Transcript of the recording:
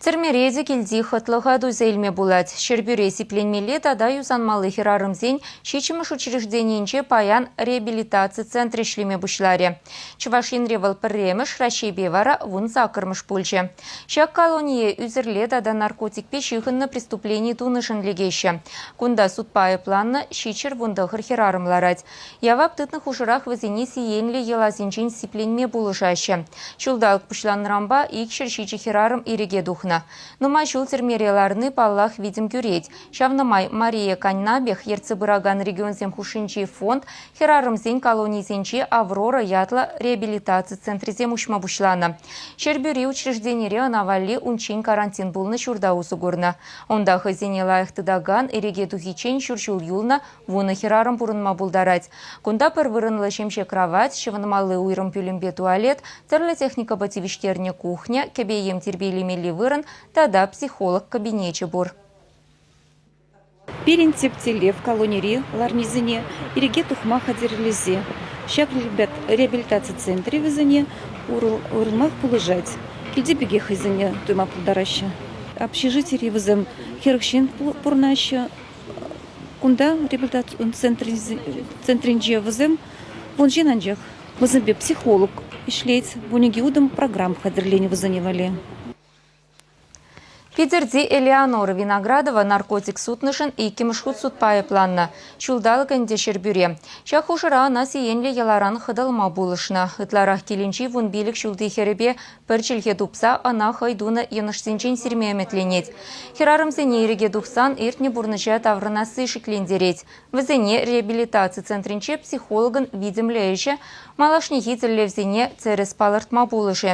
Тӗрмере те килти хӑтлӑха туйса илме пулать. Ҫӗрпӳре сипленмелли тата юсанмалли хӗрарӑмсен ҫиччӗмӗш учрежденийӗнче паян реабилитаци центрӗ ӗҫлеме пуҫларӗ. Чӑваш Енре вӑл пӗрремӗш, Раҫҫейпе вара вун саккӑрмӗш пулчӗ. Ҫак колоние ӳсӗрле тата наркотикпе ҫыхӑннӑ преступлени тунӑшӑн лекеҫҫӗ. Кунта судпа айӑпланнӑ ҫиччӗр вун тӑхӑр хӗрарӑм ларать. Явап тытнӑ хушӑрах вӗсене сиенлӗ йӑласенчен сипленме пулӑшаҫҫӗ. Ҫулталӑк пуҫланнӑранпа ик ҫӗр ҫичӗ хӗрарӑм ирӗке тухнӑ. Нумай ҫул тӗрмере ларни, паллах, витӗм кӳрет. Ҫавна май Мария Каннабех ертсе пыракан регионсем хушшинчи фонд хӗрарӑмсен колонийӗсенче Аврора ятлӑ реабилитаци центрӗсем уҫма пуҫланӑ. Ҫӗрпӳри учрежденире ӑна валли унччен карантин пулнӑ ҫурта усӑ курнӑ. Унта хӑйсене лайӑх тытакан, иреке тухиччен ҫур ҫул юлнӑ Вунӑ хӗрарӑм пурӑнма пултарать. Кунта пӗр вырӑнлӑ ҫемҫе кравать, ҫӑвӑнмалли уйрӑм пӳлӗмпе туалет, тӗрлӗ техникӑпа тивӗҫтернӗ кухня, кӗпе-йӗм тирпейлемелли вырӑн тата психолог кабинечӗ пур. Пирӗн тӗп тӗллев колонири ларнисене ирӗке тухма хатӗрлесе. Ҫак реабилитаци центрӗ вӗсене урлӑх пулӑшать. Килти пекех хӑйсене туйма пултараҫҫӗ. Общежитири вӗсем хӗрӗх ҫын пурӑнаҫҫӗ. Кунта реабилитаци центрӗнче вӗсем вун ҫын анчах. Вӗсемпе психолог ӗҫлет. Вунӗке утӑм программ хатӗрленӗ вӗсене валли. Питӗрти Элеонора Виноградова наркотик сутнӑшӑн иккӗмӗш хут судпа айӑпланнӑ. Ҫулталӑк ӗнтӗ Ҫӗрпӳре. Ҫак хушӑра ӑна сиенлӗ йӑларан хӑтӑлма пулӑшнӑ. Ытларах килӗнчи вун пилӗк ҫулти хӗрӗпе Пӗр чӗлхе тупса ӑна хӑй тунӑ йӑнӑшсенчен сирме ӗмӗтленет. Хӗрарӑмсене ирӗке тухсан иртнӗ пурнӑҫа таврӑнасси шиклентерет. Вӗсене реабилитаци центрӗнче психологӑн витӗмлӗ ӗҫӗ малашнехи тӗллевсене тӗрӗс палӑртма пулӑшӗ.